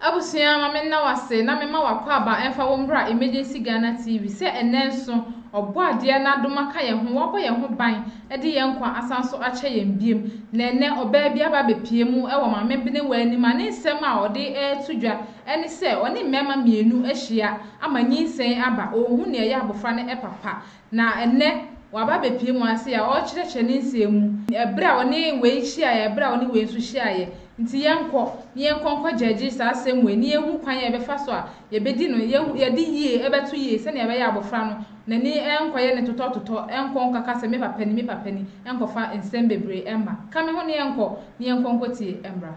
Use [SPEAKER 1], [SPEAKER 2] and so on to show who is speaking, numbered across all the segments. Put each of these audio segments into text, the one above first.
[SPEAKER 1] Abusua ma me nna wo ase na me ma wo akwaaba ɛnfa wo mbra Emergency Ghana TV sɛ ɛnɛ nso Ɔbɔadeɛ n'adoma ka yɛn ho wabɔ yɛn ho ban ɛde yɛn nkwa asan nso akyɛ yɛn biem na ɛnɛ ɔbaa bi aba abɛpie mu ɛwɔ Maame Benewaa anim a ne nsɛm a ɔde ɛɛto dwa ɛne sɛ ɔne mmɛɛma mmienu ahyia ama nyinsɛn aba ɔɔhu neɛ ɛyɛ abɔfra no ɛpapa Na ɛnnɛ, waba abɛpue mo ase a ɔrekyerɛkyerɛ ne nsɛm mu, ɛberɛ a ɔne wei hyiaeɛ, ɛberɛ a ɔne wei nso hyiaeɛ. Nti yɛnkɔ, na yɛnkɔ nkɔ gyɛɛgye saa asɛm wei, na yɛnhu kwan a yɛbɛfa so a yɛbɛdi no, yɛhu, yɛde yie bɛto yie, sɛdeɛ ɛbɛyɛ a abɔfra no n'ani renkɔyɛ no totɔtotɔ, ɛnkɔ nkaka sɛ me papa ni, me papa ni, ɛnkɔfa nsɛm bebree mma. Ka me ho na yɛnkɔ, na yɛnkɔ nkɔtie mmra.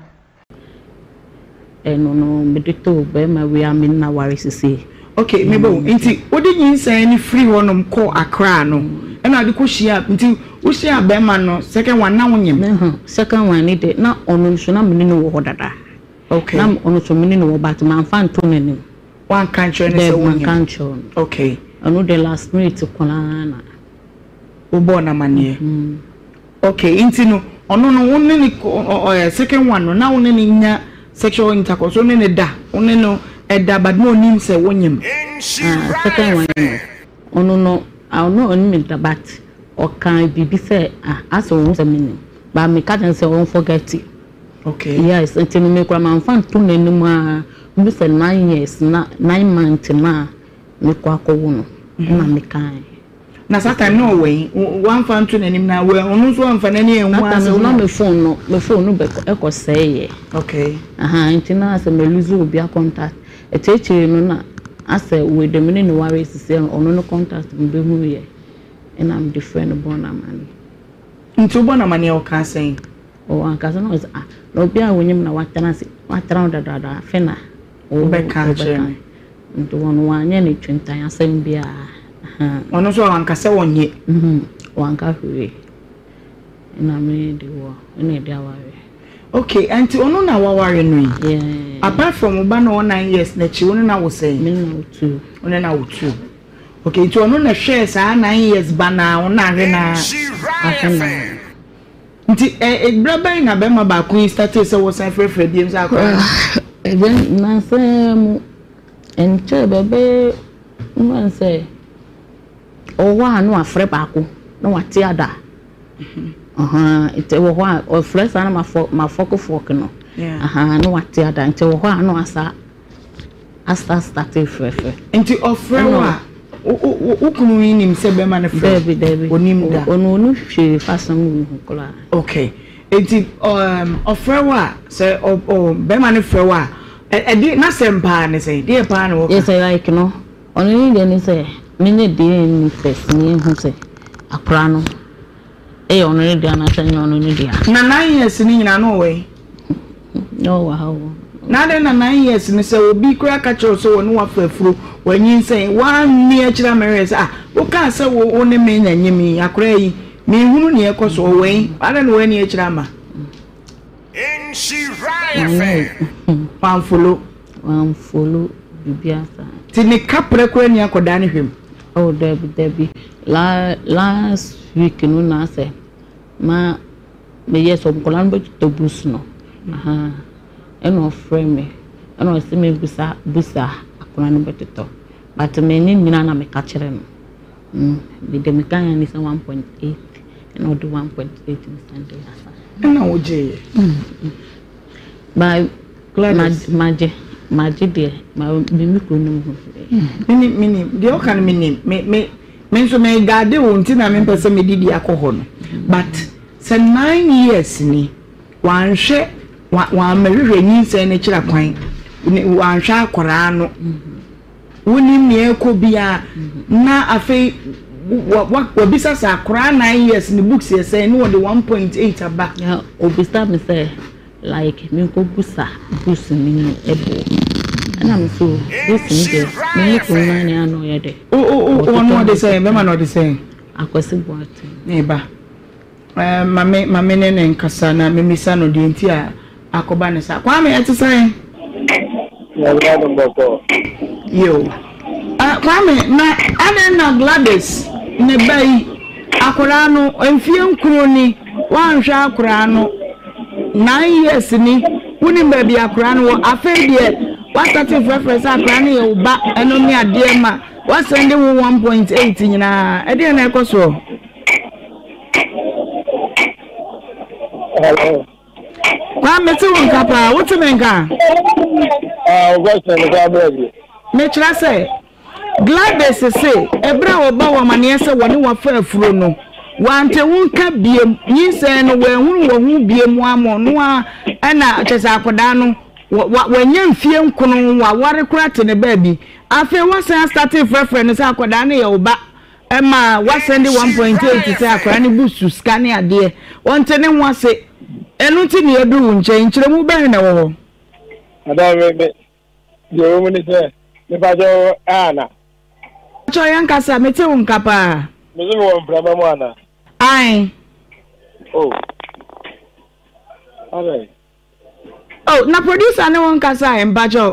[SPEAKER 1] Ɛno
[SPEAKER 2] no mede too barima wei a me nna ware sesei. Okay, me bo.
[SPEAKER 3] Nti wode nyinsɛn no firi hɔnom kɔɔ Accra no, ɛna wode kɔ hyiaa, nti wo hyiaa barima no second one na wonyem? Mehwɛ, second one no deɛ
[SPEAKER 2] na ɔno nso na me ne no wɔ hɔ dada. Okay. Na ɔno
[SPEAKER 3] nso me ne no
[SPEAKER 2] wɔ but manfa nto n'anim. Woanka nkyerɛ
[SPEAKER 3] no sɛ wonyem? Daabi, manka nkyerɛ no. Okay. Ɛno
[SPEAKER 2] deɛ last minute koraa na. Wobɔɔ
[SPEAKER 3] no amanneɛ. Mm. Ok nti no ɔno no wo ne no kɔ ɔ ɛ second one no na wo ne no nya sexual intercourse wo ne no da wo ne no ɛda but na ɔnim sɛ wo nyem ah second
[SPEAKER 2] one no. Ɔno no ah ɔno ɔnim nta but ɔka biribi sɛ ah asɛ ɔhu sɛ me nim but me ka kyerɛ no sɛ ɔn forget it Ok. yes
[SPEAKER 3] nti no me kura
[SPEAKER 2] manfa nto n'anim aa ndu sɛ nine years na nine month no a me kɔ akɔ wo no ɛna me kae. Na Satan
[SPEAKER 3] na ɔwɔ he? W'amfa anto n'anim na ɔno nso amfa n'ani anhu anhu a. Satan na me phone no
[SPEAKER 2] me phone no bɛ ɛkɔ sɛe yɛ. Okay. Ahaa
[SPEAKER 3] nti na asɛ
[SPEAKER 2] mɛ lose obi a contact. Akyirikyiri no na asɛ wei deɛ me ne no ware asisi a ɔno no contact me bɛ hu yɛ ɛna me de frɛ no bɔ no amaneɛ. Nti wo
[SPEAKER 3] bɔ no amaneɛ ɔkaa sɛn? Ɔɔ ankasa na
[SPEAKER 2] ɔse ah na obi a wo nyim na watena ase watena ho dadaada afe na. Wobɛka akyerɛ
[SPEAKER 3] me. Nti wɔn
[SPEAKER 2] wanyɛ no twintan asɛm biara. Wɔn nso
[SPEAKER 3] wanka sɛ wɔnyɛ. Wanka
[SPEAKER 2] hwee. Ɛna me de wɔ, ɛna ɛde aware. Okay, ɛnti
[SPEAKER 3] ɔno na waware no yi? Yeah. Apart
[SPEAKER 2] from wo ba
[SPEAKER 3] na ɔwɔ nine years n'akyi, wo ne na wo sɛn? Me ne na wo two.
[SPEAKER 2] Wo ne na wo two.
[SPEAKER 3] Okay, nti ɔno na hwɛɛ saa nine years ba na wo na awe na? Awe na. Nti eh bra bɛn na bɛma baako yi startee sɛ wɔsan frɛfrɛ biom sɛ akɔyɛ no. Ɛbɛn
[SPEAKER 2] nansa ara mu ɛnkyɛɛ bɛbɛyɛ mɛn sɛ ɔwɔ hɔ a na wafrɛ baako na wate ada ahaa nti wɔ hɔ a ɔfrɛ saa na mafɔ mafɔkefɔk no ahaa na wate ada nti wɔ hɔ a na wasa. Asta startee frɛfrɛ. Nti ɔfrɛ
[SPEAKER 3] wo a, wo kunu yi nim sɛ bɛrima no frɛ wo? Daabi, daabi. Onim da.
[SPEAKER 2] Ɔno ɔnu
[SPEAKER 3] hwee fasɛm
[SPEAKER 2] wei ho koraa. Okay.
[SPEAKER 3] Nti um, ɔfrɛ wo a, sɛ bɛrima no frɛ wo a, ɛde n'asɛm paa ne sɛ, deɛ paa na wɔka? Yɛsɛ like no,
[SPEAKER 2] ɔno ne deɛ ne sɛ, menyɛ DNA test na yɛhu sɛ akora no. Ɛyɛ ɔno ne dea anaasɛ ɛnyɛ ɔno ne dea? Na nine years no nyinaa
[SPEAKER 3] na ɔwɔ he? Na
[SPEAKER 2] ɔwɔ ha o. Na adɛn na
[SPEAKER 3] nine years no sɛ obi koraa ka kyerɛ wo sɛ wɔne wo afa afuro, wanyinsɛn, woanni akyiri ammɛhwɛ sɛ ah wokaa sɛ wo wo ne me na ɛnyɛ me yi, akwadaa yi menhunu nea ɛrekɔ so, ɔwɔ he? Adɛn na woanni akyiri amma?
[SPEAKER 4] Wanfolo.
[SPEAKER 3] Wanfolo
[SPEAKER 2] bibi asa. Ti ne kaprɛ
[SPEAKER 3] koraa ni akɔdaa ne hwɛm. Oh dabi
[SPEAKER 2] dabi la last week no na asɛ ma me yɛ sɛ nkɔla no bɛtotɔ bus no ɛna ɔfrɛ me ɛna ɔsɛ me busa busa akɔla no bɛtotɔ but me ne nyina na meka kyerɛ no. Mm, mede me Ghana ni sɛ one point eight, ɛna ɔde one point eight ne Sunday afa. Ɛna wogyeeɛ?
[SPEAKER 3] Mm, mm. Ba,
[SPEAKER 2] Gladys. Ma, magye, magye deɛ, ma me me kuro no mu ho. Mm, menim, menim,
[SPEAKER 3] deɛ ɔka no menim, me, me, me nso me gaade wo nti na mempɛ sɛ mede bi akɔ hɔ no. But sɛ nine years ni, wanhwɛ, wammɛhwehwɛ nyinsɛn no kyerɛ kwan, wanhwɛ akwaraa no. Mm -hmm. Wonnim nea ɛrekɔ biara, na afei wabisa sɛ akwaraa nnan years ne books yɛ sɛn na wɔde one point eight aba. Obisa me sɛ
[SPEAKER 2] like menkɔ busa books no mu ɛbo ɛna me so books no deɛ me ne kɔn nnan ne ano yɛ dɛ. Wɔn ɔde
[SPEAKER 3] sɛn bɛma na ɔde sɛn. Akwasi
[SPEAKER 2] Boateng. Ne ba.
[SPEAKER 3] Ma me, ma me ne no nkasa na memmisa no deɛ nti a akɔba no saa. Kwame, ɛte sɛn? Nyame adom bɔkɔɔ. Yiw. Ah, Kwame, na adɛn na Gladys, ne ba yi, akwadaa no, mfeɛ nkron ni, woanhwɛ akwadaa no? Nine years ni, wonim baabi a akwadaa no wɔ. Afei deɛ, woastate frɛfrɛ sɛ akwadaa no yɛ wo ba, ɛno ne adeɛ ma woasɛnde wo one point eight nyinaa. Ɛdeɛn na ɛrekɔ soɔ?
[SPEAKER 5] Hello. Ah, me te
[SPEAKER 3] wo nka paa, wote me nka?
[SPEAKER 5] Ah, wo question no kwa bra bi. Me kyerɛ sɛ
[SPEAKER 3] Gladys se ɛberɛ a wɔba wɔn amaneɛ sɛ wɔne wɔfa afuro no wante wo nka biem nyinsɛn no wɔahunu wɔ ho biem amɔ no a ɛna kyɛ sɛ akwadaa no wɔanya mfie nkono wɔaware kora te ne baabi afei wɔsan astate frɛfrɛ no sɛ akwadaa no yɛ wo ba Ɛma wa send one point eight sɛ akwadaa no bu su sika ne adeɛ ɔnte ne ho ase ɛno nti na yɛduru wo nkyɛn nkyerɛmu bɛn na ɛwɔ hɔ. adaa
[SPEAKER 5] me me deɛ ɛwɔ mu ne sɛ mepakyɛ wo ana. pakyɛ yɛn
[SPEAKER 3] kasa mete wo nka paa. me so mewɔ mprama
[SPEAKER 5] mu ana. ae. oh. All right. Oh
[SPEAKER 3] na producer ne wo nkasa ɛ mpakyɛw.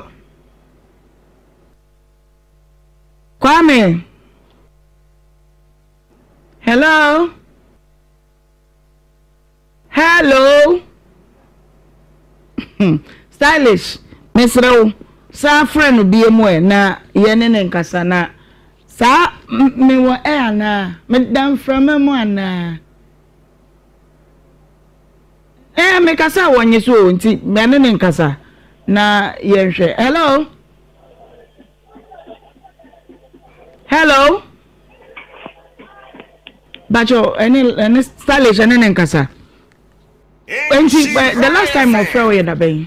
[SPEAKER 3] Kwame. Hello. Hello. Stylish mesrɛ wo san frɛ no bie mu ɛ na yɛ ne ne nkasa na saa. Me wɔ ɛ anaa? Me da mframa mu anaa? Ɛɛ mekasa wɔ nye so o nti mɛ ne ne nkasa na yɛ nhwɛ hello hello bakyɛ ɛne ɛne stylish ɛne ne nkasa nti the last time ɔfrɛ wo yɛ dabɛn.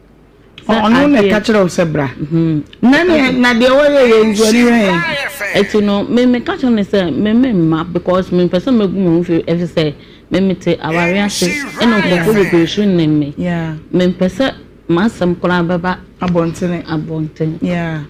[SPEAKER 2] Ɔ ɔno
[SPEAKER 3] na ɛka kyerɛ wo sɛ bra. Na ne na deɛ wɔyɛ yɛ nso ani hwɛ yɛn. Ɛti no me
[SPEAKER 2] me ka kyerɛ ne sɛ me me mma because me mpɛ sɛ me gu me ho fi ɛfi sɛ me me te aware ase ɛna nkurɔfoɔ bebree so nim me. Me mpɛ
[SPEAKER 3] sɛ
[SPEAKER 2] m'asɛm koraa bɛba abɔntene. Abɔntene.
[SPEAKER 3] Yeah.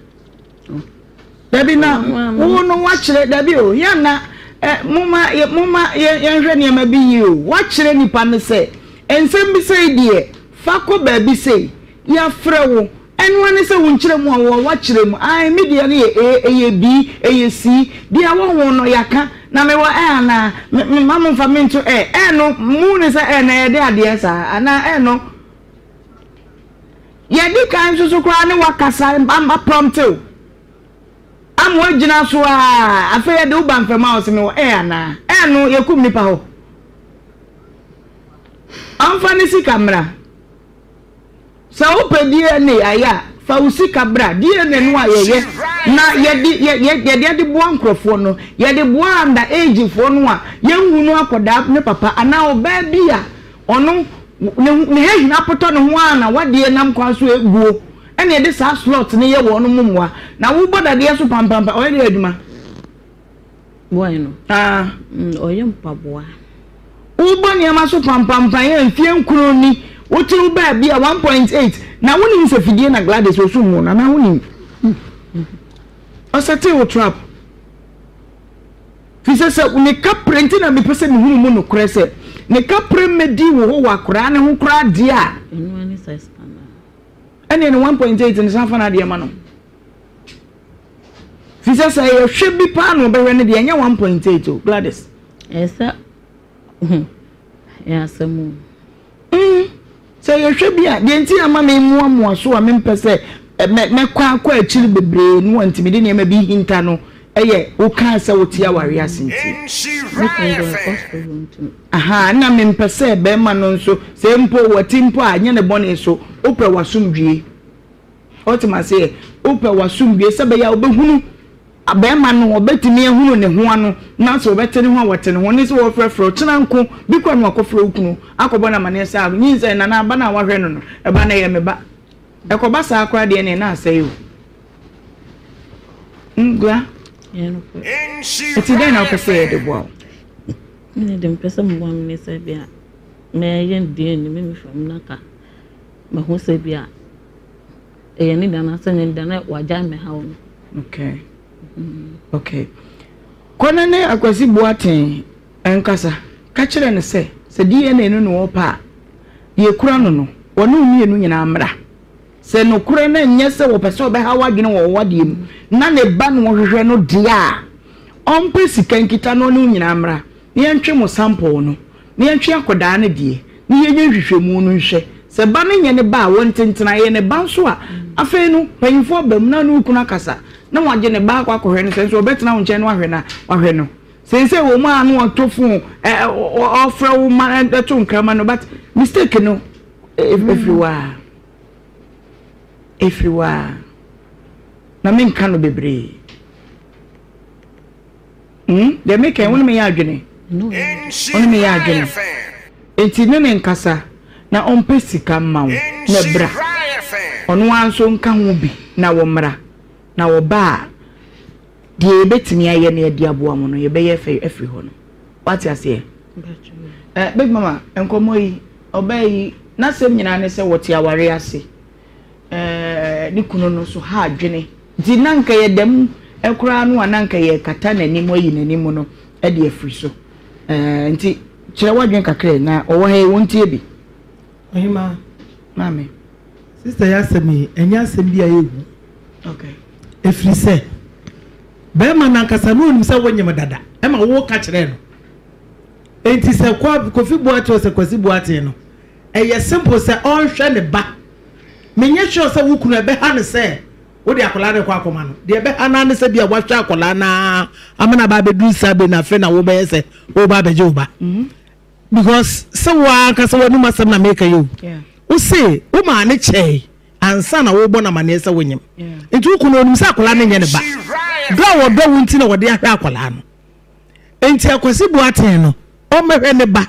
[SPEAKER 3] dabi na wo no wakyerɛ dabi o yɛn na eh, moma moma yɛnhwɛ nneɛma bi yie o wakyerɛ nipa no sɛ nsɛm bi sɛ deɛ fa kɔ baabi sɛ yɛafrɛ wo ɛnoa ne sɛ wonkyerɛ mu a wɔ wakyerɛ mu ae me deɛ no yɛ ee ɛyɛ bi ɛyɛ si deɛ wɔ ho no yɛaka na mewɔ ɛ anaa mema mo mfa mento ɛ ɛ no mu ne sɛ ɛ na yɛde adeɛ saa anaa ɛ no Deɛ ɛdi kan nso so koraa ne w'akasa ama prompte wo ama woagyina so aa afei yɛde wo ba mfam a ɔse me wɔ ɛɛ anaa ɛɛ no yɛkum nipa hɔ ɔmfa ne sika mmra sɛ wopɛ DNA ayɛ a fa wo sika bra DNA no a yɛyɛ na yɛde yɛde yɛde boa nkurɔfoɔ no yɛde boa anda agefoɔ no a yɛnhu no akɔdaa ne papa anaa ɔbaa bi a Ɔno, ne ho, ne hɛ nyinaa potɔ ne ho ara na wadeɛ nam kwan so ɛ, guo ɛna ɛde saa slot no yɛ wɔnom mo mmoa. Na wo bɔ dadeɛ so pampampa, ɔyɛ dɛ adwuma.
[SPEAKER 2] Boy no? Aa. Mm, ɔyɛ mpaboa. Wo
[SPEAKER 3] bɔ nneɛma so pampampa yɛ mfeɛ nkron ni, wo kye wo baa bi a, one point eight, na wo nim sɛ fidie na Gladys wɔ sum mu no, anaa wo nim? Ɔsɛtee wo trap. Fisɛ sɛ wo ne ka prɛ nti na me pɛ sɛ me hunu mu nokorɛ sɛ ne ka prɛ mmɛdii wo hɔ wɔ akoraa no ho koraa deɛ a,
[SPEAKER 2] ɛneɛ
[SPEAKER 3] ne 1.8 no san fa no adeɛ ma no. Fisɛ sɛ ɛyɛ hwɛ bi paa na ɔbɛhwɛ no deɛ ɛnyɛ 1.8 o Gladys.
[SPEAKER 2] ho. Ɛyɛ asɛm o. Mm,
[SPEAKER 3] sɛ yɛhwɛ bi a, deɛ nti a ma memoamoa so a mempɛ sɛ mɛkɔ akɔ akyiri bebree no wɔntumi de nneɛma bi hinta no yɛ wokaa sɛ wote awareɛ ase nti. Me kunu do ɛkɔ so wɔntumi. Aha, na mempɛ sɛ bɛrima no nso, sɛ mpo wɔte mpo a, nyɛ ne bɔne so, wopɛ w'asomdwie. Ɔte maseɛ, wopɛ w'asomdwie sɛ bɛyɛ a wobɛhunu Abarima no, wɔbɛtumi ahunu ne ho ano, nanso wɔbɛte ne ho a wɔte ne ho ne sɛ wɔrefrɛfrɛ wo. Kyena nko bi koraa na wakɔfrɛ wo kunu akɔbɔ no amanneɛ sɛ, Ah, nyinsɛn na na aba no a woahwɛ no no, ɛba no ɛyɛ me ba. Ɛkɔba saa koraa deɛ ɛnneɛ na asɛe o. Hmm, Gua, enti dɛn na wopɛ sɛ yɛde boa wo? Me
[SPEAKER 2] deɛ mepɛ sɛ moboa me ne sɛ bia mɛyɛ DNA me nufu no na ka mahu sɛ bia Ɛyɛ ne da no asɛ ne da na wagyae mmɛhaw no.
[SPEAKER 3] Okay. Okay. Kɔ na ne Akwasi Boateng nkasa. Ka kyerɛ no sɛ, sɛ DNA no ne ɔpɛ a, deɛ ɛkura no no, wɔne wo mmienu nyinaa mmra. Sɛ nokorɛ no ɛnyɛ sɛ wɔpɛ sɛ wɔbɛha wo adwene wɔ w'adeɛ mu na ne ba na wɔhwehwɛ no deɛ a, ɔmpɛ sika nkita na ɔne wo nyinaa mmra na yɛntwe mo sample no. na yɛnhwɛ akwadaa no deɛ na yɛnyɛ nhwehwɛmu no nhwɛ, sɛ ba no nyɛ ne ba a wɔnte ntena, ɛyɛ ne ba nso a, afei no mpanyimfoɔ aba mu na ɔne wo kunu akasa na wɔagye ne ba akɔ akɔhwɛ no, sɛ nso ɔbɛtena wo nkyɛn na wahwɛ no a, wahwɛ no. Seesei wɔ mu a na ɔtɔ fon, ɔfrɛ wo ma ɛto nkrama no, but mistake no ɛfiri e, waa. Ɛfiri waa. Na menka no bebree. Hmm? Deɛ meka yi, wo ne meyɛ adwene. Wo ne meyɛ adwene. Enti ne ne nkasa na ɔmpɛ sika mma wo na ɛbra. Ɔno ara nso nka ho bi na wɔmmra. Na wɔba a, deɛ yɛbɛtumi ayɛ no yɛde aboa mo no, yɛbɛyɛ fɛ afiri hɔ no. Wate aseɛ? Eh, Big Mama, nkɔmmɔ yi, ɔbaa yi, n'asɛm nyinaa ne sɛ wɔte aware ase. eh, ne kunu no nso ha adwene. Nti na nka yɛda mu koraa no a na nka yɛkata n'anim ayi n'anim no de afiri so. Eh, nti kyerɛ w'adwene kakra na ɔwɔ ha yi wɔntie bi. Ɔhema.
[SPEAKER 6] Maame.
[SPEAKER 3] Sista
[SPEAKER 6] yɛ asɛm yi, ɛnyɛ asɛm bi a ɛyɛ hu. Okay.
[SPEAKER 3] Ɛfiri sɛ,
[SPEAKER 6] bɛrima no ankasa na ɔnim sɛ wonyem dada, ɛma woka kyerɛ no. Enti sɛ Kofi Boateng sɛ Kwasi Boateng no, Ɛyɛ simple sɛ ɔnhwɛ ne ba. Menyɛ sure sɛ wo kunu ɛbɛha no sɛ wode akwadaa no rekɔ akɔma no. Deɛ ɛbɛha no ara ne sɛ bia wahwɛ akwadaa no ara ama no aba abɛduru saa bere no afei na wobɛyɛ sɛ woreba abɛgye wo ba. Because sɛ wo ara ankasa w'anom asɛm na meka yi o, wose womaa no kyɛe ansa na worebɔ no amanneɛ sɛ wonyem. Nti wo kunu ɔnim sɛ akwadaa no nyɛ ne ba. Dɔ a ɔdɔ wo nti na ɔde ahwɛ akwadaa no. nti akwasi boateng no ɔmmɛhwɛ ne ba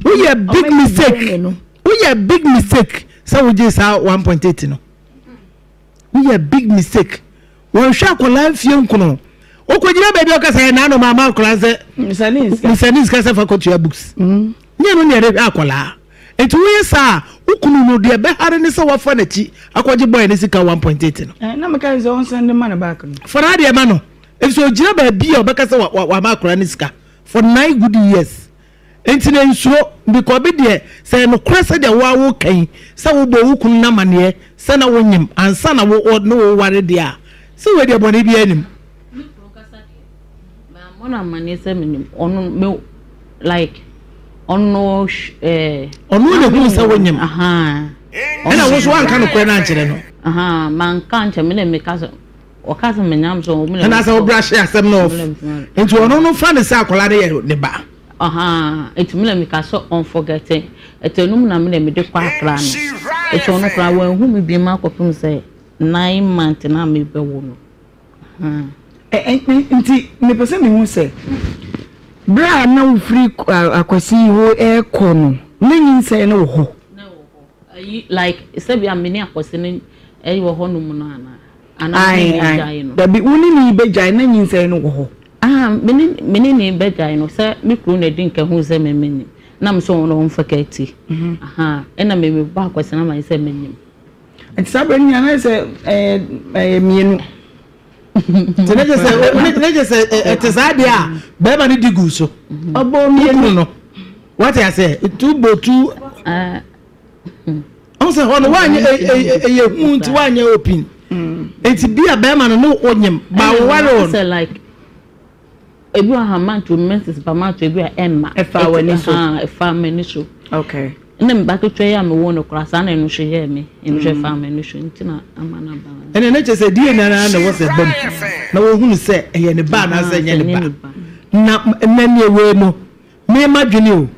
[SPEAKER 6] woyɛ big mistake woyɛ big mistake sɛ wogye saa one point eight no woyɛ big mistake wɔnhwɛ akwadaa mfie nkono okɔgyina baabi a ɔkasa yɛ naanoma ama akwadaa sɛ nsane nsika sɛ fa kɔtua books mm. nyɛ no ne ɛde hwɛ akwadaa nti woyɛ saa wokunu no deɛ bɛhare ne sɛ wafa n'akyi akɔgye bɔɛ ne sika one point eight no
[SPEAKER 3] eh, fana deɛ ma no
[SPEAKER 6] Efisɛ ogyina baabi a ɔbɛka sɛ wama akwadaa no sika for nine good years. Enti na nsuro, because bi deɛ sɛ ɛyɛ nokorɛ sɛdeɛ wo ara woreka yi sɛ wobɔɔ wo kunu no amaneɛ sɛ na wonyem ansa na wo ne wo reware deɛ a, sɛ wei deɛ bɔne biara nnim. Me kunu ankasa
[SPEAKER 2] deɛ, mammɔ no amaneɛ sɛ menim. Ɔno me like ɔno eh,
[SPEAKER 6] ɔno na ehunu sɛ wonyem.
[SPEAKER 2] Ɛna wo nso anka nokorɛ
[SPEAKER 6] no ankyerɛ no. Manka
[SPEAKER 2] nkyɛ me na meka sɛ Ɔka sɛ menya mpɛ wɔn mu na. Ɛna sɛ ɔbra hyɛ asɛm
[SPEAKER 6] na ɔf. Nti ɔno no fa ne sɛ akwadaa no yɛ ne ba. Ɔhaa nti
[SPEAKER 2] mi na mi ka sɛ ɔn forget it ɛtɛ no mu na mi na mi de kɔ akra no nti ɔno koraa wɔn ehu mi bi mu akɔpem sɛ nine month na mi bɛ wo no.
[SPEAKER 3] Nti mi pɛ sɛ mi hu sɛ bere a na wofiri akwasi yi hɔ ɛɛkɔ no na nyinsɛn no wɔ hɔ. Na ɛwɔ hɔ ayi
[SPEAKER 2] like sɛbi a mi ne akwasi no ɛwɔ hɔ nom no anaa. Aane, aane, dabi,
[SPEAKER 3] wo ne no rebɛgyae na nyinsɛn no wɔ hɔ. Aha, me
[SPEAKER 2] ne, me ne no rebɛgyae no, sɛ me kunu na di nka hu sɛ me menim, na me sɛ ɔno na ɔmfa ka ti. Aha, ɛna me mebɔ akɔsena ma sɛ menim. Nti saa berɛ
[SPEAKER 3] no nyina na sɛ ɛyɛ, ɛyɛ mmienu. Nti na kyɛ
[SPEAKER 6] sɛ, na kyɛ sɛ ɛte saa deɛ a, bɛrima no di gu so. Ɔbɔ mmienu. Wokunu no, wate aseɛ, nti wobɔ tu. ɔn sɛ hɔ no wanyɛ ɛyɛ hu nti wanyɛ opin nti bi a bɛrima no ne onyim ba woware wɔn. sɛ like
[SPEAKER 2] ebi wɔ ha manto menses ba manto ebi a ɛmma ɛfa w'ani so
[SPEAKER 3] ɛfa m'ani so
[SPEAKER 2] okay ne
[SPEAKER 3] mba ketewa
[SPEAKER 2] yi a mewɔ no koraa saa na ɛno so yɛɛ me ɛno so ɛfa m'ani so nti na ama no aba ɛne ne kyɛ sɛ die na
[SPEAKER 6] na na ɛwɔ sɛ bam na wɔhunu sɛ ɛyɛ ne ba anaasɛ ɛnyɛ ne ba na na neɛ wei no Me ma dwene o.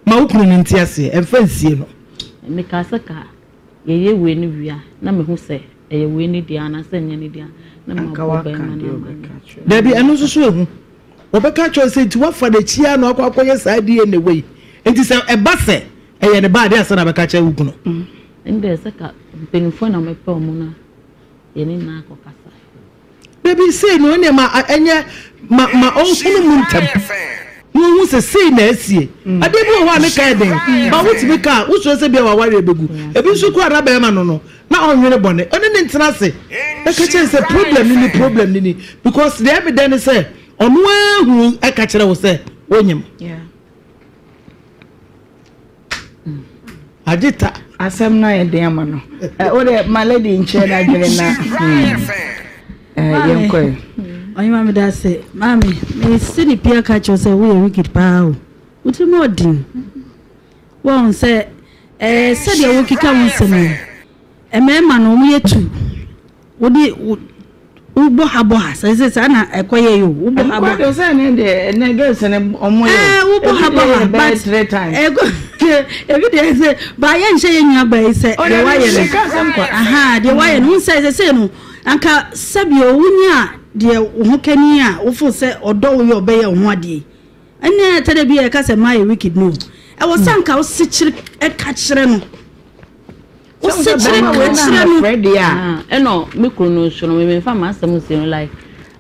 [SPEAKER 6] Ma wo kunu no nte aseɛ. Ɛmfa nsie no. Me kaa sɛ ka
[SPEAKER 2] yɛyɛ wei no wie a na me hu sɛ ɛyɛ wei no deɛ anaa sɛ nyɛ no deɛ a na ma bɔ bɛɛma no ama no. Dabi
[SPEAKER 6] ɛno nso so ɛhu. Ɔbɛka akyerɛ wo sɛ nti wafa no akyi a na wakɔ akɔ yɛ saa DNA wei. Nti sɛ ɛba sɛ ɛyɛ ne ba a deɛ ansa na abɛka akyerɛ wo kunu. Ɛndeɛ sɛ
[SPEAKER 2] ka mpaninfoɔ na wɔpɛ wɔn no a yɛne nyinaa kɔ kasa. Da bi
[SPEAKER 6] sei na ɔneɛ ma ɛnyɛ ma ma ɔnhunu mu ntɛm na ɔhu sɛ sei na asie. Adeɛ bi wɔ hɔ a ne ka yɛ den ma wotumi ka a wosuro sɛ bia w'awareɛ bɛgu. Ebi nso koraa na bɛɛma no no na ɔnwene bɔne. Ɔne no ntena ase na ka kyerɛ no sɛ problem no ni, problem no ni because deɛ ɛmedɛ ne sɛ ɔno ara hunu ɛka kyerɛ wo sɛ wonyem. Agyeta. Asɛm no ayɛ
[SPEAKER 3] den ama no. Eh, wo de ma lady nkyerɛ na adwene na. Hmm. Eh, yɛn kɔɛ. Ɔyɛ maame da
[SPEAKER 7] ase. Maame, me si ne pia ka kyerɛ sɛ woyɛ wicked paa o. Wotiri mu ɔden. Wɔn sɛ eh sɛdeɛ wokeka wo nsɛm yi. Mmarima no wɔn yɛ tu. Wo de wo wo bɔ ha bɔ ha sɛ sɛ saa na ɛkɔ yɛ yo wo bɔ ha bɔ ha. Ɛkɔ sɛ ne de ɛnɛ
[SPEAKER 3] girls ne ɔmo yɛ. Ɛɛ wo bɔ ha bɔ ha but
[SPEAKER 7] three times. Ɛkɔ ebi de ɛsɛ ba yɛ nhyɛ yɛ nua ba yi sɛ deɛ wayɛ no. Ɛka sɛm kwa. Aha deɛ wayɛ no nsɛ sɛ sɛ no anka sɛbi o wunya deɛ wo ho kani a wofo sɛ ɔdɔ wo yɛ ɔbɛyɛ wo ho adeɛ. Ɛnɛ ɛtɛ dɛ bi ɛka sɛ ma yɛ wicked no. Ɛwɔ sɛ anka wo sekyere ɛka kyerɛ no. Wosekyerɛ na wɔkyerɛ no. Mefrɛ deɛ a ɛna
[SPEAKER 3] me kunu no
[SPEAKER 2] nso no me memfa m'asɛm nsi no like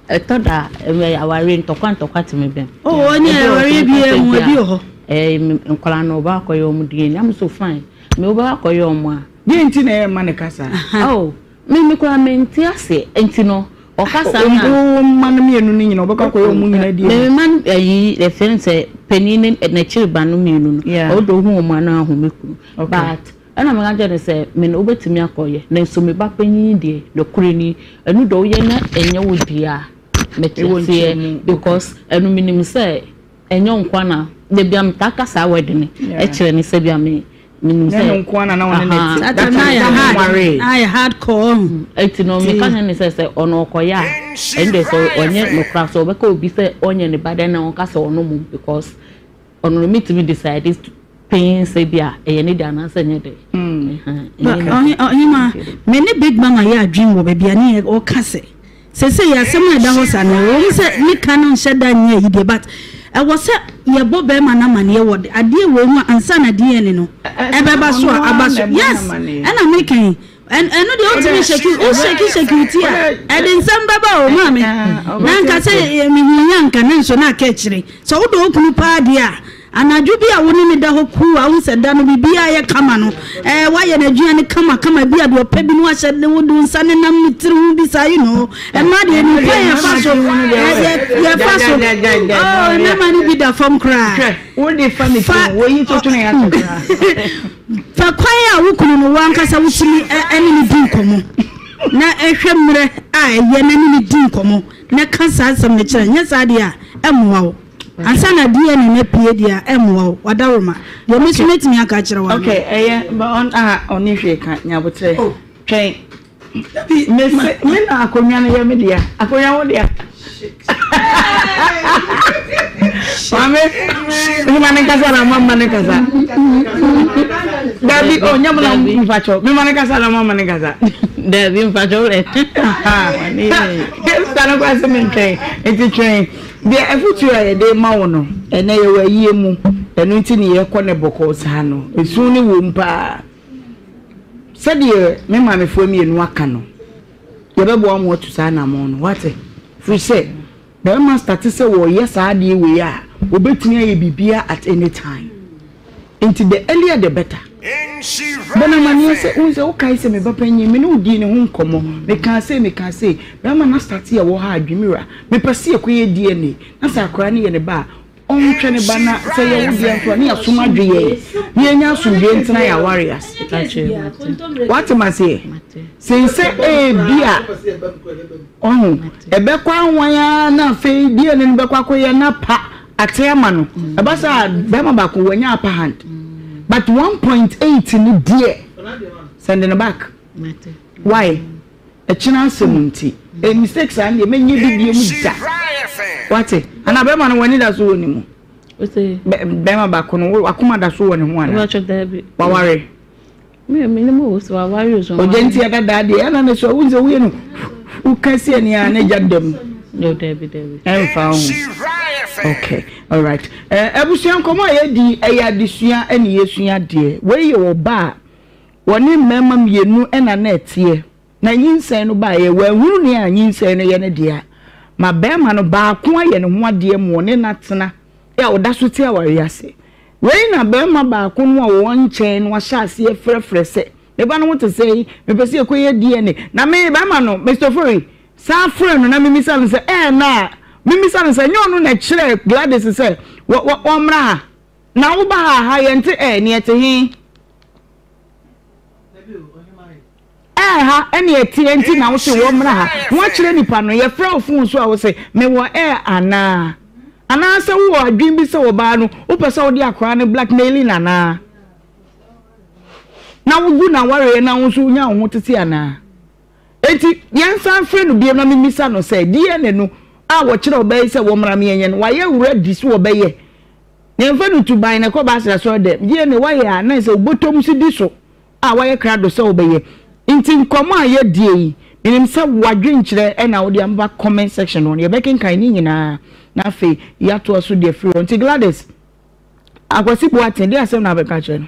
[SPEAKER 2] ɛtɔ da awareɛ ntɔkwa ntɔkwa te me bɛm. Oh ɔne awareɛ
[SPEAKER 7] bi yɛ mu ɛbi wɔ hɔ. Ɛɛ nkwadaa no
[SPEAKER 2] ɔba akɔyɛ wɔn DNA na me so fine me ɔba akɔyɛ wɔn a. Deɛ nti na ɛma ne
[SPEAKER 3] kasa. Oh me
[SPEAKER 2] me koraa me nte ase nti no ɔkasa na. Wɔn mma no mmienu no nyina
[SPEAKER 3] ɔbɛkɔ akɔyɛ wɔn nyina DNA. Me mma no ɛyi
[SPEAKER 2] ɛfɛn sɛ panin ne n'akyiri ba no mmienu no ɔdɔ ohun wɔn ano ahome kunu but. Ɛnna meka kyerɛɛ no sɛ, Me no, wobɛtumi akɔyɛ, nanso me ba panyin deɛ, nokorɛ ni, ɛno deɛ woyɛ na ɛnyɛ wo deɛ a, mete aseɛ, because ɛno menim sɛ ɛnyɛ wo nko ara na, dabi a metaa ka saa word no kyerɛ no sɛ bi a me, menim sɛ,
[SPEAKER 3] aha, that time na yɛnwaree,
[SPEAKER 7] na yɛ hard core, ɔhu, ɛti no meka
[SPEAKER 2] kyerɛ no sɛ sɛ ɔno ɔkɔyɛ a, ɛndeɛ sɛ ɔnyɛ nokorɛ a, sɛ ɔbɛka obi sɛ ɔnyɛ ne ba dɛ na ɔnka sɛ ɔno mmom, because. Ɔno no metumi decide panyin sɛ bi a ɛyɛ ne de anaasɛ ɛnyɛ de.
[SPEAKER 7] ɔhema me ne big mama yɛ adwene wɔ baabi a ne yɛ ɔka sɛ sɛsɛ yɛ asɛm a ɛda hɔ sa no ɛwɔ mu sɛ ne ka no nhyɛ da nyɛ ayi deɛ but ɛwɔ sɛ yɛbɔ bɛrima no amaneɛ wɔ adeɛ wei ho a ansa na deɛ ne no ɛbɛba so a aba so yes ɛna meka yi ɛno deɛ wotumi hyɛki wohyɛki hyɛki wuti a ɛde nsɛm bɛba o maa me na nka sɛ mehuhia nka ne nso na aka akyire sɛ wodɔ wo kunu paa deɛ a anadwo bi a wo ne ne da hɔ kuu a wo sɛ da no biribiaa yɛ kama no ɛɛ woayɛ no adwuma no kama kama bi a deɛ ɔpɛ bi no wahyɛ ne wo do nsa ne nam ne tiri ho bi saa yi no ɛma deɛ ne kwan yɛfa so yɛfa so mmarima no bi da fam koraa fa
[SPEAKER 3] Fa
[SPEAKER 7] kwan a wo kunu no, wo ankasa wotumi ne no di nkɔmmɔ na hwɛ mmerɛ a ɛyɛ na ne no di nkɔmmɔ na ka saa asɛm no kyerɛ no. Nyɛ saa deɛ a, ɛmmoa wo. Ansa na DNA no apue deɛ a, ɛmmoa wo. W'adaworoma deɛ, me nso mɛtumi aka akyerɛ wo anaa? Okay, ɛyɛ, but ɔn,
[SPEAKER 3] ah, ɔnni hwee ka, nya aboterɛ, twɛn. Mese me na akonnwa no yɛ me dea. Akonnwa wo dea. Maame, mema ne nkasa na mama ne nkasa. Dabi, o nyɛ mo na mfakyɛw. Mema ne nkasa na mama ne nkasa. Dabi, mfakyɛw
[SPEAKER 2] dɛ.
[SPEAKER 3] Sista no kora se me ntwɛn. Nti twɛn. Deɛ afutuo a yɛde ma wo no, ɛnɛ yɛwɔ ayie mu. Ɛno nti ne yɛkɔ ne bɔkɔɔ saa no. Esu ne wom paa. Sɛdeɛ me maamefoɔ mmienu aka no, yɛbɛboa wɔn atu saa anammɔn no. Woate? Ɛfiri sɛ, barima starte sɛ ɔreyɛ saa adeɛ wei a, ɔbɛtumi ayɛ biribiara at any time. Enti the earlier the better. Bɔ no amanneɛ sɛ, Wohu sɛ, wokae sɛ me ba panin, me ne wo dii ne ho nkɔmmɔ. Mekaa sei, mekaa sei. Barima no astarte yɛ wɔ ha a, Dwimira, mepɛ sɛ yɛkɔyɛ DNA, na sɛ akwadaa no yɛ ne ba a, Ɔnhwɛ ne ba na sɛ ɛyɛ wo deɛ nso a ne yɛasom adweyɛɛ na yɛnya asomdwoeɛ ntena yɛn aware ase. Woate me aseɛ? Sen sɛ ebi a ɔho ɛbɛkɔ ahwan ara na afei deɛ ne no bɛkɔ akɔyɛ na pa ate ama no. Ɛba sɛ bɛrima baako wanya upper hand but 1.8 no deɛ send no back. Why? ɛkyena asɛm nti eh mistake saa ndeɛ mɛnyɛ bi bie mu da wate ana bɛma no wani da so wɔ ne mu bɛma baako no wakoma da so wɔ ne ho ana waware ɔgya nti ɛda daa deɛ ɛna ne so wohu sɛ woyɛ no woka si ani a na gya da mu ɛmfa ho okay all right abusua nkɔmɔ a yɛdi ɛyɛ adesua ɛne yɛsua deɛ wei yɛ ɔba a Wɔne mmarima mmienu na na ɛteɛ, na nyinsɛn no baeɛ, wɔanhunu nea nyinsɛn no yɛ no deɛ a, ma barima no baako ayɛ ne ho adeɛ ma ɔne no atena a ɔda so te awareɛ ase. Wei na barima baako no a ɔwɔ nkyɛn no ahyɛ aseɛ frɛfrɛ sɛ, Me ba no ho te sɛn? Mepɛ sɛ yɛkɔyɛ DNA. Na me, barima no, Mister Ofori, san frɛ no na memmisa no sɛ, Ɛɛ na memmisa no sɛ ɛnyɛ ɔno na ɛkyerɛɛ Gladys sɛ wɔ, wɔ, wɔmmra ha? Na woba ha a, ha yɛnte ɛɛ, nea ɛte he? Ɛɛ ha ɛne ɛteɛ nti na wose wɔ mmra ha woakyerɛ nipa no yɛfrɛ wo fon so a wose mewɔ ɛɛ anaa anaasɛ wowɔ adwene bi sɛ ɔbaa no wopɛ sɛ wode akwaraa no blackmailing anaa na wogu na wareɛ na wo nso wonya wo ho tete anaa enti yɛnsan frɛ no bio na memisa no sɛ DNA no a wɔkyerɛ ɔbaa yi sɛ wɔmmra meɛnyɛ no wayɛ wura di so ɔbɛyɛ Yɛmfa no tu ban na kɔ Basel Asɔredɛm, yie na wɔayɛ a na ɛsɛ wo bɔtɔm so di so a wɔayɛ krado sɛ wobɛyɛ. Nti nkɔmmɔ a yɛadie yi, menim sɛ w'adwenkyerɛ na wode aba comment section hɔ no, yɛbɛkenkan ne nyinaa na afei yɛatoa so de afiri hɔ. Nti Gladys, Akwasi Boateng, deɛ asɛm na wobɛka akyerɛ no?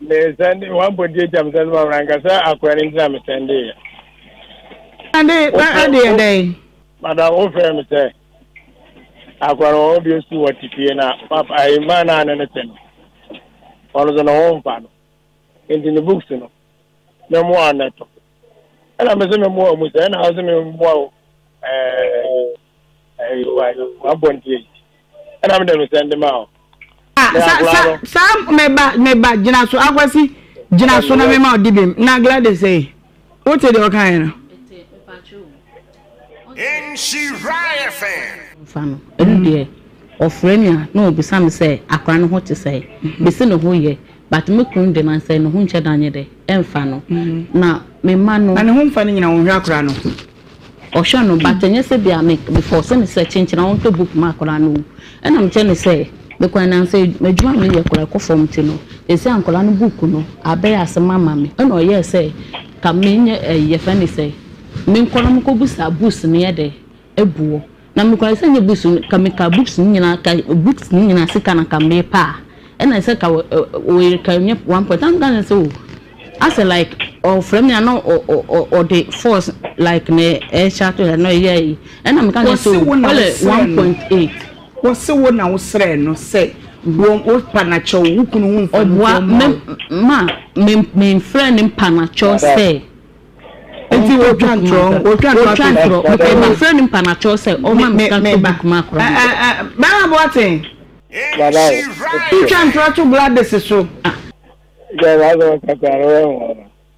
[SPEAKER 3] Me sɛnde
[SPEAKER 5] wɔn abɔ di agya me sɛnde ma wɔn ankasa akɔɛ ne ntina me sɛnde yɛ. Ade na ade
[SPEAKER 3] yɛ dɛ. Madam wo fɛ
[SPEAKER 5] me sɛ akɔɛ no wɔn bi esu wɔ te fie na papa ayi mmaa naa ne ne sɛnde wɔn nso na wɔn nfa no nti ne books no mɛmo anɛto. ɛna mese me mmoa mu sɛ ɛna ɔse me mmoa o wabɔ ntie ɛna mede no sɛnde ma o saa meba meba gyina so akwasi gyina so na mema ɔde bim na Gladys sɛ wote deɛ ɔkaeɛ no
[SPEAKER 4] mfa no. Ɛno
[SPEAKER 2] deɛ ɔfrɛ me a na ɔbisa me sɛ akora no ho te sɛn? Mese ne ho yɛ but me kunu de nansɛ ne ho nkyɛ da nyɛ dɛ ɛmfa no na me mma no. Na ne ho mfa no nyina ɔnhwɛ
[SPEAKER 3] akora no? Ɔhwɛ no
[SPEAKER 2] but ɛnyɛ sɛ bia me force no sɛ kyenkyena ɔnhwɛ book ma akora no o. Ɛna mekyerɛ no sɛ me kwan na sɛ adwuma a meyɛ kora ɛkɔ fam nti no seesei ankora no book no abɛyɛ asɛm ama me. Ɛna ɔyɛɛ sɛ Ka me nye eh yɛfrɛ ne sɛn? Me nkɔ na mo kɔ busa books no yɛ dɛ ɛboɔ na me kɔ na sɛ nyɛ books no ka me ka books no nyinaa ka books no nyinaa sika na ka me pɛ a ɛna sɛ ka wɔ wɔ yɛ ka nyɛ one point na me ka kyerɛ no sɛ oh asɛ like ɔfrɛ me a na ɔ ɔ ɔ ɔde force like na ɛhyɛ ato yɛ na ɔyɛ ayi ɛna me ka kyerɛ no sɛ oh kɔlɛ one point eight. Wɔse wo
[SPEAKER 3] na wo srɛɛ no sɛ boɔ wo panakyɛw wo kunu ho mfanisoɔ mma wo. Ɔboa me ma
[SPEAKER 2] me mfrɛ ne panakyɛw sɛ
[SPEAKER 3] ɔnkɔ book ma me. Ɔtwa ntorɔ. Mekɔɔ mefrɛ ne
[SPEAKER 2] panakyɛw sɛ ɔmma me sika ntɔ book ma akora no. Bɛɛma
[SPEAKER 3] Boateng
[SPEAKER 4] twa ntorɔ to
[SPEAKER 3] Gladys so.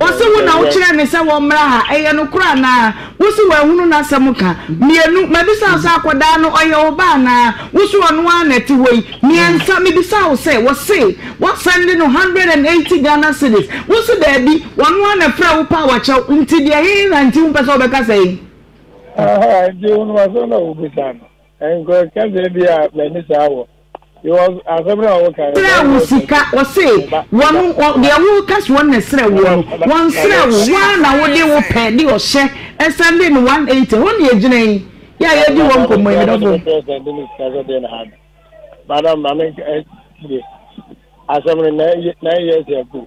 [SPEAKER 3] Ose wo na wo kyerɛɛ me sɛ wɔmmra ha, ɛyɛ nokorɛ anaa? Wose wanhunu n'asɛm ka? Mmienu, mabisa wo sɛ akɔdaa no ɔyɛ wo ba anaa? Wose ɔno ara na ɛte hɔ yi? Mmiɛnsa, mebisa wo sɛ wɔse woasɛnde no hundred and eighty Ghana cedis, wose daabi, ɔno ara na frɛɛ wo paa wakyɛ wo, nti deɛ he na nti wompɛ sɛ wobɛka sɛ yi? Aha,
[SPEAKER 5] nti wonim asɛm na wobisa no? Nkurɔfoɔ ka sɛ ebia m'ani saa wɔ. Serɛ a wo sika, ɔse, wɔn,
[SPEAKER 3] wɔn, deɛ woreka sɛ wɔn na ɛserɛ woɔ no, wɔnserɛ wo, wo ara na wode wo pɛ de ɔhyɛ ɛsan de no 180, ɛhɔ na yɛgyina yi, yɛ a yɛredi hɔ nkɔmmɔ yi, medɔfo.
[SPEAKER 5] Madam, maame ntie asɛm no na ɛyɛ na ɛyɛ sɛ ɛko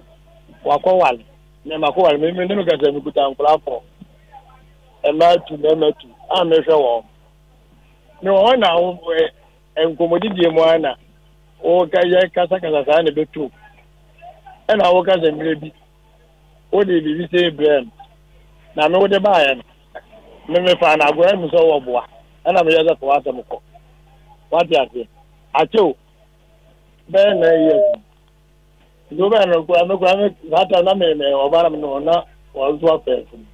[SPEAKER 5] wakɔwale na ɛma kɔwale me me ne me kasa me kuta nkora fɔ ɛma tu na ɛma tu a mehwɛ wɔn ne wɔn na wɔn Nkɔmmɔdidie mu ara na woka yɛ kasakasa saa na ɛbɛtu ɛna woka sɛ mmerɛ bi wode biribi sei brɛɛ me na me wode baeɛ no me mefaa no agoa mu sɛ wowɔ boa ɛna meyɛ sɛ fa w'asɛm kɔ wate aseɛ akyɛw bɛyɛ na ɛyɛ Nti wobɛn no kura me kura me saa tam na me me ɔba na me no na wɔn nso afɛ funu.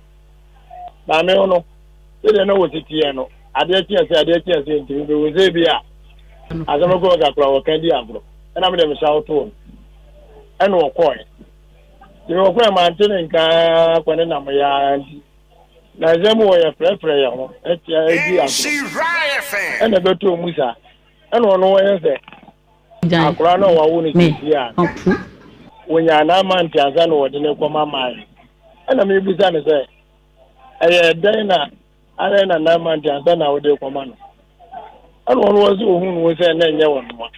[SPEAKER 5] Na me ho no sɛdeɛ na wɔsi teɛ no adeɛ kye ɛsɛ adeɛ kye ɛsɛ nti mebe wo sɛ bi a asɛm kɔ kakra wɔka di agorɔ ɛna mede mehyɛ wo too no ɛna wɔkɔɛ. Nti wɔkɔɛ mante ne nkaa kɔ ne nam yɛa nti na nsɛm mu wɔyɛ frɛfrɛ yɛ ho ɛtia ɛdi agorɔ ɛna ɛbɛtɔ mu saa ɛna ɔno wɔyɛ sɛ Akwadaa no a wɔawo no sisi a wɔnyaa n'amante ansa na wɔde no kɔma maa yɛ. Ɛna mebisa no sɛ, ɛyɛ dɛn na ayɛ na n'amante ansa na wɔde kɔma no? Ɛna ɔno wɔn sɛ ohun no sɛ na ɛnyɛ wɔn noa.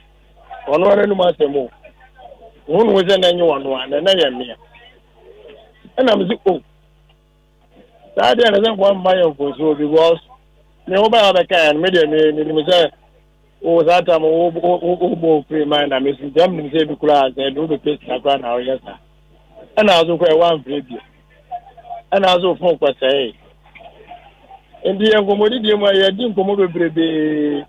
[SPEAKER 5] Ɔno ara anim asɛm o. Ohun no sɛ na ɛnyɛ wɔn noa na na ɛyɛ mmea. Ɛna mese o. Oh, saa deɛ na sɛ nkoa mma yɛ mfonsuo because me wo bɛyɛ bɛkaeɛ no me deɛ me menim sɛ wo saa tam wo wobɔ ofiri ma na mesi nti am nim sɛ ebi koraa sɛ ɛde wobɛpɛ sika koraa na woyɛ saa ɛna so kɔ ɛwɔ amfrɛ bio ɛna so fon kɔsɛe nti yɛ nkɔmmɔdidie mu a yɛdi nkɔmmɔ bebrebee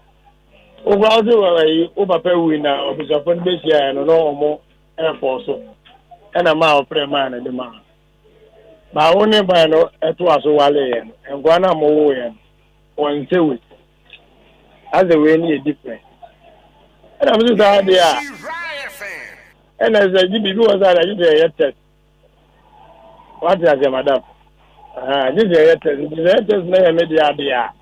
[SPEAKER 5] wokora wo sɛ ayi wo papa wui na ɔbusuafo no bɛhyiaɛ no na ɔmo ɛfɔ so ɛna maa ɔfrɛ maa no de maa Na wo ne ban no toa so wale yɛn nkoa no a mowoo yɛn wɔ Nsewui. Na sɛ wei no yɛ different. Ɛna mese saa deɛ a, ɛna sɛ gye biribi wɔ saa deɛ gye sɛ yɛyɛ test. Wate aseɛ madam? Aha, gye sɛ yɛyɛ test. Gye sɛ yɛyɛ test na yɛ me deɛ adeɛ a.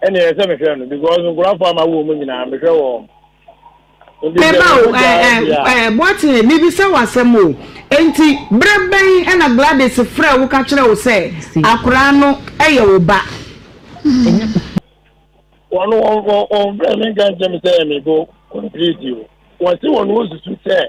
[SPEAKER 5] ɛne ɛsɛ mehwɛ no because nkura fo ama wo mu nyinaa mehwɛ wɔ wɔn. Meba o,
[SPEAKER 3] Boateng, mebisa wo asɛm o, enti berɛ bɛn ɛna Gladys frɛ wo ka kyerɛ wo sɛ akoraa no ɛyɛ wo ba? Wɔn wɔn frɛ me nka nkyɛm sɛ ɛyɛ me bo complete o, wɔn se wɔn wɔsusu sɛ.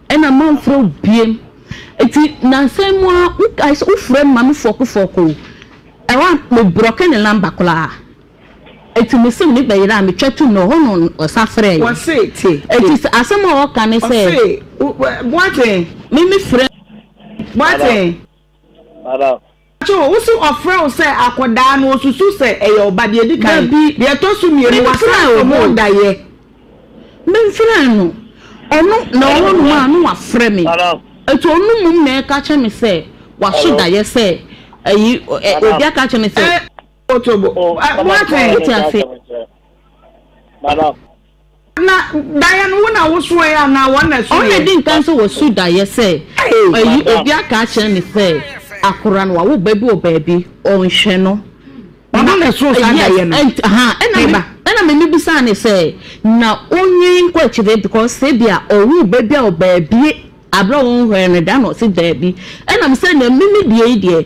[SPEAKER 2] Ɛna manfrɛ wo biem. Enti nnansa yi mu ara wokae sɛ wofrɛ me ma me fɔɔkofɔɔko. Ɛhɔ a mebrɔke ne number koraa. Enti me sim no bɛyera a metwa tu no hɔ na ɔsan frɛɛ yɛn. Wɔse tie.
[SPEAKER 3] Enti sɛ asɛm a ɔka
[SPEAKER 2] ne sɛ. Ɔse wo Boateng.
[SPEAKER 3] Me mefrɛ
[SPEAKER 2] Boateng.
[SPEAKER 5] Madam. Pacho, wo
[SPEAKER 3] se ɔfrɛ wo sɛ akɔdaa no osusu sɛ ɛyɛ ɔba deɛ edi kan, Dabi, deɛ ɛtɔ so mmienu wasan menfrɛɛ kɔ no o, daeɛ.
[SPEAKER 2] menfrɛɛ no, ɔno na ɔwɔ nom a na wafrɛ me, ɛti ɔno mmom na ɛka kyerɛ me sɛ waso daeɛ sɛ ɛyi ɛ obi aka akyerɛ me sɛ. Ɛ, Otobo,
[SPEAKER 3] ɛ, Boateng. Wote aseɛ?
[SPEAKER 5] Na
[SPEAKER 3] daeɛ no wo na wosoɛɛ anaa wɔn na ɛsoeɛ? Wɔn na ɛdi nkan sɛ wɔso
[SPEAKER 2] daeɛ sɛ ayi obi aka akyerɛ no sɛ akora no wawo ba bi wɔ baabi ɔnhwɛ no. Ɔno na ɛsoo
[SPEAKER 3] saa daeɛ no? Yes, ha, ɛna
[SPEAKER 2] ɛna m'ani bisaa ne sɛ na onwi nkɔ akyire because sɛ bi a ɔwo ba bi a ɔbaabi abira wɔn hwɛ no da na ɔsi daabi ɛna mo sɛ na mimi deɛ yi deɛ.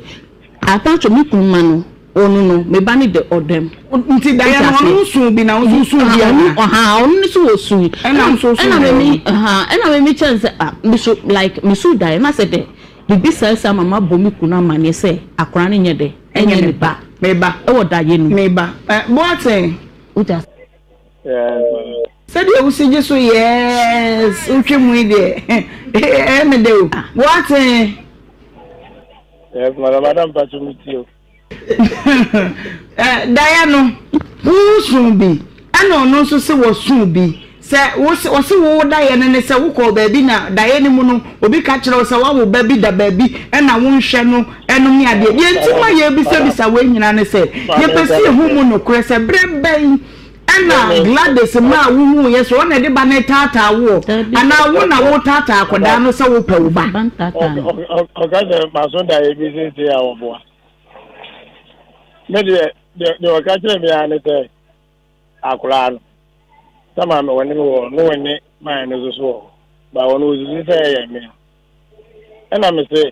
[SPEAKER 2] Apacho me kunu ma no onu no me ba no de ɔdɔ m. Nti daeɛ no
[SPEAKER 3] ɔno nso bi na wo nso nso bi anaa. Ɔno ɔhaa ɔno no so
[SPEAKER 2] ɔsu yi. Ɛna nso nso ɛna
[SPEAKER 3] memi haa ɛna memi
[SPEAKER 2] kyɛn sɛ ah me so like me su daeɛ na sɛ dɛ bibi saa saa ma ma bɔ me kunu amaneɛ sɛ akora no nyɛ dɛ ɛnyɛ ne ba. Me ba. Ɛwɔ daeɛ
[SPEAKER 3] no mu. Me
[SPEAKER 2] ba. Eh
[SPEAKER 3] boateng. Wogya. Sɛdeɛ wo si gye so yes wotwa mu yi deɛ ɛyɛ me dɛ o boateng.
[SPEAKER 5] Yes, madam, madam,
[SPEAKER 3] pacho mi tio. Eh, daya no, wo sun bi, ɛna ɔno nso se wɔ sun bi. Sɛ wo se ɔse wo wo daya no ne sɛ wo kɔ baabi na daya no mu no obi ka kyerɛ wo sɛ wa wo ba bi da baabi ɛna wo nhwɛ no ɛnom ne adeɛ. Deɛ nti ma yɛ bisa bisa wei nyina ne sɛ yɛ pɛ sɛ yɛ hu mu nokorɛ sɛ berɛ bɛn Ɛna Gladys mma a wohuu yɛ sɛ ɔna de ba no retaataa woɔ anaa wo na woretaataa akwadaa no sɛ wopɛ wo ba? Ɔka sɛ
[SPEAKER 5] maso da yɛ bi sese a wɔboa. Me deɛ deɛ ɔka kyerɛ me ara ne sɛ akoraa no sɛ maa me wɔne me wɔ no wɔne maa no so so wɔ ba wɔn wɔsusu sɛ ɛyɛ me ɛna me se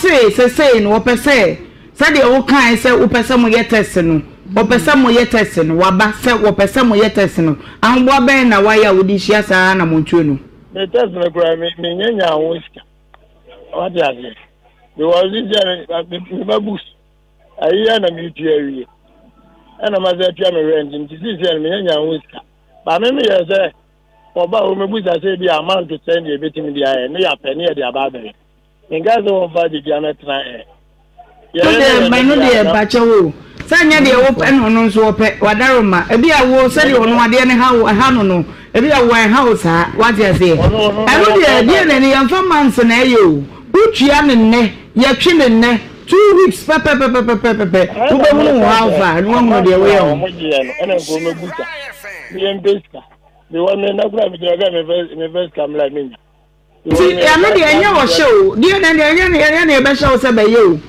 [SPEAKER 2] Se sesei no wɔpɛ sɛ sɛdeɛ wo kae sɛ wopɛ sɛ mo yɛ test no, wɔpɛ sɛ mo yɛ test no, waba sɛ wɔpɛ sɛ mo yɛ test no, ahoboa bɛn na wayɛ a wode hyia saa anamontuo no? Me test no
[SPEAKER 5] koraa me me nya nya ho sika, wate aseɛ, because ne sɛ me ma books, ayi yɛ na me tua wie, ɛna ma sɛ tua me rent, nti si sɛ me nya nya ho sika, ba me me yɛ sɛ wɔba hɔ me busa sɛ bi amount sɛn deɛ ebetumi de ayɛ ne yɛ apɛ ne yɛ de aba abɛyɛ. Menka sɛ wɔmfa adedua no tena ɛ.
[SPEAKER 3] Yɛyɛ ne yɛn no deɛ a na. Pakyɛ wo o. Sɛ nyɛ deɛ wo pɛ na ɔno nso ɔpɛ. Wadaro ma. Ebi a wo sɛdeɛ ɔno adeɛ no ha wo ɛha no no. Ebi a wo ɛnha wo saa. Wate aseɛ. Ɛno deɛ deɛ na ɛne yɛmfa months na ɛyɛ o. Wo tua no nnɛ. Yɛtwe no nnɛ. Two weeks pɛpɛpɛpɛpɛpɛpɛ. Wo bɛ hunu wo how far na wahunu deɛ woyɛ ho. Wɔn gyeɛ no ɛna nko mɛ
[SPEAKER 5] busa. Yɛn pɛ sika. Deɛ wɔn mɛ nakura mi gyina kɛ mɛ fɛ mɛ fɛ sika mɛ la mɛ nya. Nti, ɛno
[SPEAKER 3] deɛ ɛnyɛ ɔhyɛ o, deɛ na deɛ ɛyɛ ɛyɛ na yɛbɛhyɛ wo sɛ bɛyɛ o,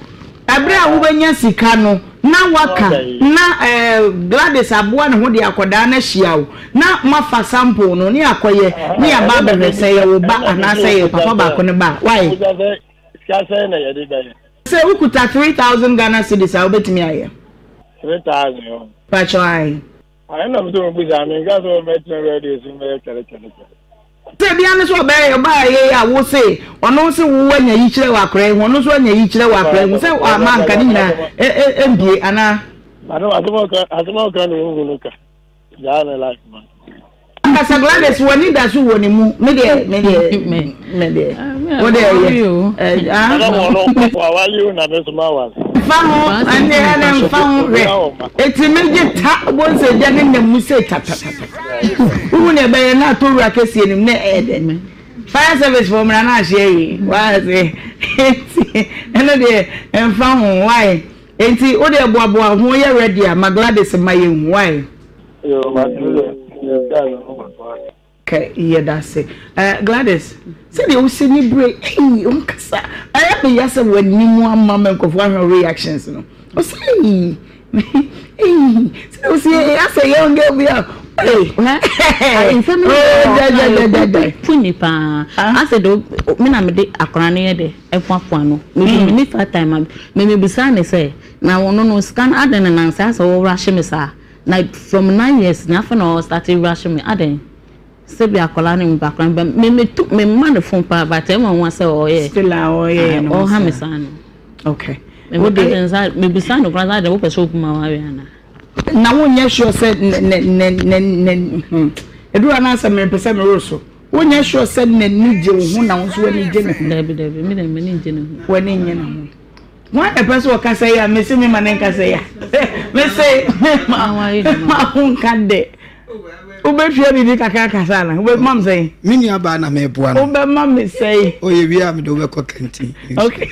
[SPEAKER 3] ɛberɛ a wobɛnya sika no na woaka na ɛɛ Gladys aboa ne ho de akwadaa no ahyia wo na moafa sample no ne akɔyɛ ne yɛaba abɛhwɛ sɛ ɛyɛ wo ba anaasɛ ɛyɛ papa baako no ba a, why? Sika sɛn na yɛde bɛyɛ? Sɛ wokuta three thousand Ghana cedis a wobɛtumi ayɛ? Three thousand
[SPEAKER 5] o. Pakyɛ ae.
[SPEAKER 3] Ahe na mese mobisa,
[SPEAKER 5] menka sɛ ɔbɛtena wiase de esi mbɛyɛ twɛre twɛre twɛre. Sɛ
[SPEAKER 3] bia ne sɛ ɔbɛyɛ ɔbaa yie a wo se ɔno wo se wo wanya yikyerɛ wɔ akora yi ho ɔno nso anya yikyerɛ wɔ akora yi ho sɛ ama anka ne nyinaa ɛmbie anaa.
[SPEAKER 5] Asɛm a ɔka no ɔnhu no ka gyaa ne life man. Ambassador
[SPEAKER 3] Gladys w'ani da so wɔ ne mu me deɛ me deɛ me deɛ wo deɛ yɛ ah. Ɛna wɔn no wɔn awa yi
[SPEAKER 5] na mi soma wa. Nfa ho ɛnɛ
[SPEAKER 3] ɛnɛ nfa ho hwɛ eti mi gye ta bɔ nsɛ gya ne nna mu sɛ tatatata wohu na ɛbɛyɛ na ato wura kɛseɛ nim na ɛyɛ dɛ fire service fɔ mmara na ahyɛ yi waa se eti ɛno deɛ nfa ho wae eti wo deɛ boaboa ho yɛ ready a ma Gladys ma yɛ hu wae.
[SPEAKER 5] Yoo, m'aduru
[SPEAKER 3] dɛ, yɛda Yehowa do ase. Kɛ yɛda ase. Eh, Gladys, sɛdeɛ wosɛ ni bere yi, ei, wonkasa, ayɛ me ya sɛ w'anim ama me nkurɔfoɔ ahwɛ wo reactions no. Wosɛ ei, ei, sɛdeɛ wosɛ ei, asɛ young girl bi a, ei, hɛɛ, nsɛm yi oh, dɛ, dɛ, dɛ,
[SPEAKER 2] dɛ, dɛ. Fu ni paa. Ah. Asɛ de, me na mede akwaraa no yɛ dɛ, ɛfoafoa no. Me de, me ni fat time, me, me bisaa no sɛ, na wo no no, sika no, adɛn na nansa asɛ wo rush me saa? Na from nine years na afei na ɔ start rush me adɛn sɛ bi akwadaa no meba koraa but me me tu me ma no phone paa but ɛyɛ me nwanwa sɛ ɔyɛ still a ɔyɛ yɛ no
[SPEAKER 3] ɔha me saa no
[SPEAKER 2] okay
[SPEAKER 3] me me ka kyɛn
[SPEAKER 2] sɛ me bisa no koraa sɛ adɛn wopɛ sɛ obu ma wawe ana na wonyɛ
[SPEAKER 3] sure sɛ ne ne ne ne ne hmm eduru anaa sɛ me pɛ sɛ me woro so wonyɛ sure sɛ n'ani gye wo ho na wo nso w'ani gye ne ho dabi dabi me dɛm m'ani gye
[SPEAKER 2] ne ho w'ani nye ne ho.
[SPEAKER 3] Hwan na ɛpɛ sɛ ɔkasa yi a mese me ma ne nkasa yi a mese me ma ma ho nka dɛ wobɛtua biribi kakra kasa na wobɛma me sɛn me nuabaa na meboa
[SPEAKER 8] no wobɛma me sɛn
[SPEAKER 3] ɔyɛ wie a mede wobɛkɔ
[SPEAKER 8] kantin okay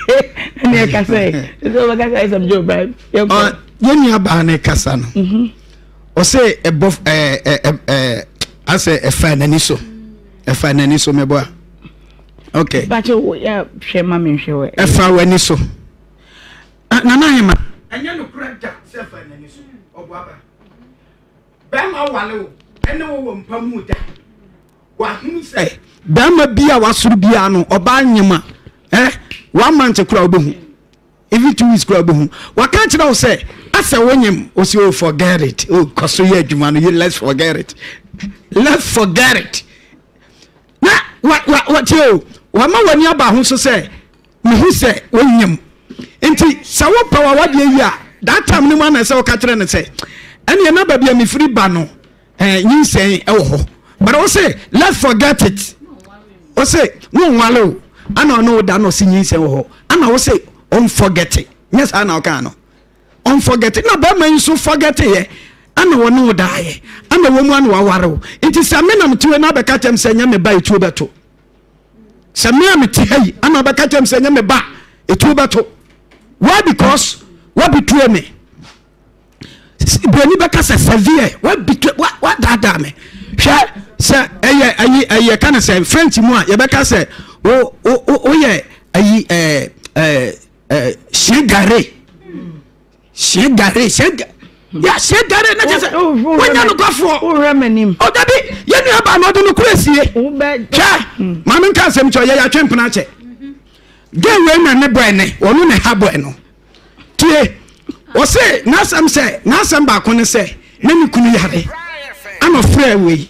[SPEAKER 3] ɛne ɛka sɛ ɛsɛ wobɛka sɛ ɛsɛm gye obra yɛnkɔ yɛ
[SPEAKER 8] nuabaa no kasa no ɔsɛ ɛbɔ ɛɛ ɛɛ asɛ ɛfa n'ani so ɛfa n'ani so meboa okay bakyɛ wo ya
[SPEAKER 3] hwɛ ma me hwɛ wɛ ɛfa w'ani so
[SPEAKER 8] ah, nana ahema ɛnyɛ no kura da sɛ fa n'ani so ɔbɔ aba bɛrima wale wo ɛne wo wɔ mpa mu da wahunu sɛ bɛrima bi a wasoro biara no ɔbaa nyema ɛ eh, one month kura wobɛhu even two weeks kura wobɛhu waka kyerɛ wo sɛ asɛ wonyem ɔsi o oh, forget it o oh, kɔ so yɛ adwuma no let's forget it let's forget it Na wa wa wɔtie o wama w'ani aba ho so sɛ mehu sɛ wɔnyam nti sɛ wopɛ wa wadeɛ yi a that time no mu ana sɛ woka kyerɛ no sɛ ɛneɛ na baabi a mefiri ba no eh, nyinsɛn ɛwɔ hɔ but wo se let's forget it wo se wonwale o ana ɔne wo da no ɔse nyinsɛn wɔ hɔ ana wo se ɔmfɔgɛte nyɛ saa na ɔkaa no ɔnfɔgɛte na bɛrima yi nso fɔgɛteeɛ ɛna wɔne wo daeɛ ɛna wɔn mu ɛna waware wo nti sɛ me na mete hɔ na abɛka kyɛm sɛ nyɛ me ba etuo bɛto sɛ me a mete ha yi ɛna abɛka kyɛm sɛ nyɛ me ba etuo bɛto why because wabitue me broni bɛka sɛ severe wabitue wadaadaa me hwɛ sɛ ɛyɛ ayi ɛyɛ ka ne sɛ french mu a yɛbɛka sɛ o o o yɛ ayi ɛɛ ɛɛ. ɛɛ hyɛn gare hyɛn gare hyɛn gare yà sẹ dare ne kyesẹ wọnyẹ nukwafoɔ ɔdabi
[SPEAKER 3] yẹn
[SPEAKER 8] nua baa na ɔde no kura sie hwẹ maame nka nsɛm kyɛ ɔyɛ yàtwe mpena kyɛ gay wei na ne bɔ ɛnɛ ɔno na ɛha bɔ ɛno tie ɔsɛ n'asɛm sɛ n'asɛm baako ne sɛ ne ne kunu yare ɛna ɔfrɛ wei.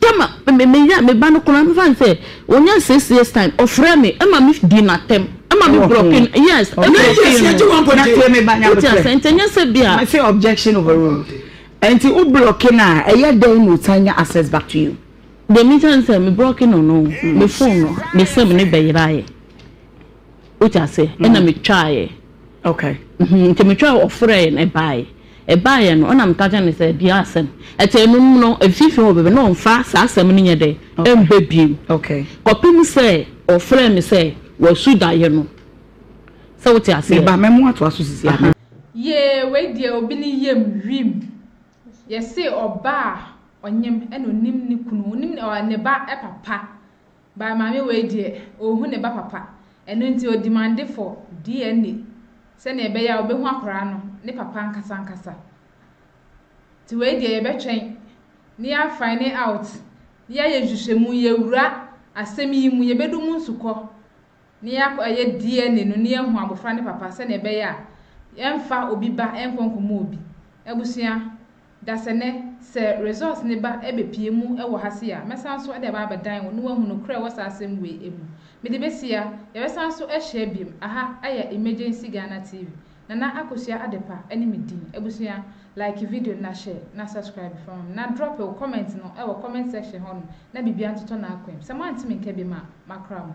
[SPEAKER 2] Tama, me, me yere a, me ba no koraa, me fa no sɛ, ɔnya six years time, ɔfrɛ me, ɛma me di no atɛm, ɛma me brɔke no, yes, ɛbrɔke no. Nine years, yɛgye one point two. Na tie me ba, nyame pɛ. Wote
[SPEAKER 3] aseɛ, nti ɛnyɛ sɛ bi a. Me se objection overruled. Nti wo brɔke no a, ɛyɛ dɛn na ɔsan nya access back to you? Deɛ me ka ne sɛ,
[SPEAKER 2] me brɔke no no, me phone no, me sɛ me ne bɛyera ayɛ. Wote ase? Ɛna metwaeɛ. Okay.
[SPEAKER 3] Mhm, nti metwaeɛ
[SPEAKER 2] ɔfrɛeɛ no ɛbaeɛ. Ɛbaeɛ no ɛna meka kyerɛ no sɛ bia asɛm. Ɛte ɛno mu no mfimfini hɔ bɛbɛ na ɔmfa saa asɛm no nyɛ dɛ ɛmbɛ biom. Okay. Kɔpem
[SPEAKER 3] sɛ
[SPEAKER 2] ɔfrɛɛ me sɛ wasu daeɛ no. Sɛ wote aseɛ? Meba mɛmo atoa so sisi
[SPEAKER 3] a. Yee wei
[SPEAKER 1] deɛ obi ne yam wim yɛse ɔbaa ɔnyem ɛna onim ne kunu onim ne ba papa. By maame wei deɛ ɔnhu ne ba papa ɛno nti ɔdimande for DNA sɛdeɛ ɛbɛyɛ a ɔbɛhu akwadaa no ne papa ankasa ankasa nti wei deɛ yɛbɛtwɛn ne yɛ find out ne yɛayɛ nhwehwɛmu yɛwura asɛm yi mu yɛbɛdu mu nsukɔ. na yɛakɔ ɛyɛ DNA no na yɛahu abɔfra ne papa sɛnea ɛbɛyɛ a yɛmfa obi ba nkɔ nkɔmmɔ obi. Abusua, dasɛnɛ, sɛ Results ne ba bɛpie mu wɔ ha sei a, mɛsan nso de aba abɛdan wo na woahu nokorɛ a ɛwɔ saa asɛm wei mu. Mede bɛsi ha, yɛbɛsan nso ahyia biom, aha yɛ Emergency Ghana TV, Nana Akosua Adepa ne me din. Abusua, like video no na share, na subscribe fa ma me, na drop wo comment no wɔ comment section hɔ nom na biribiara ntotɔ n'akwam. Sɛ moante me nka biom a, makra mo.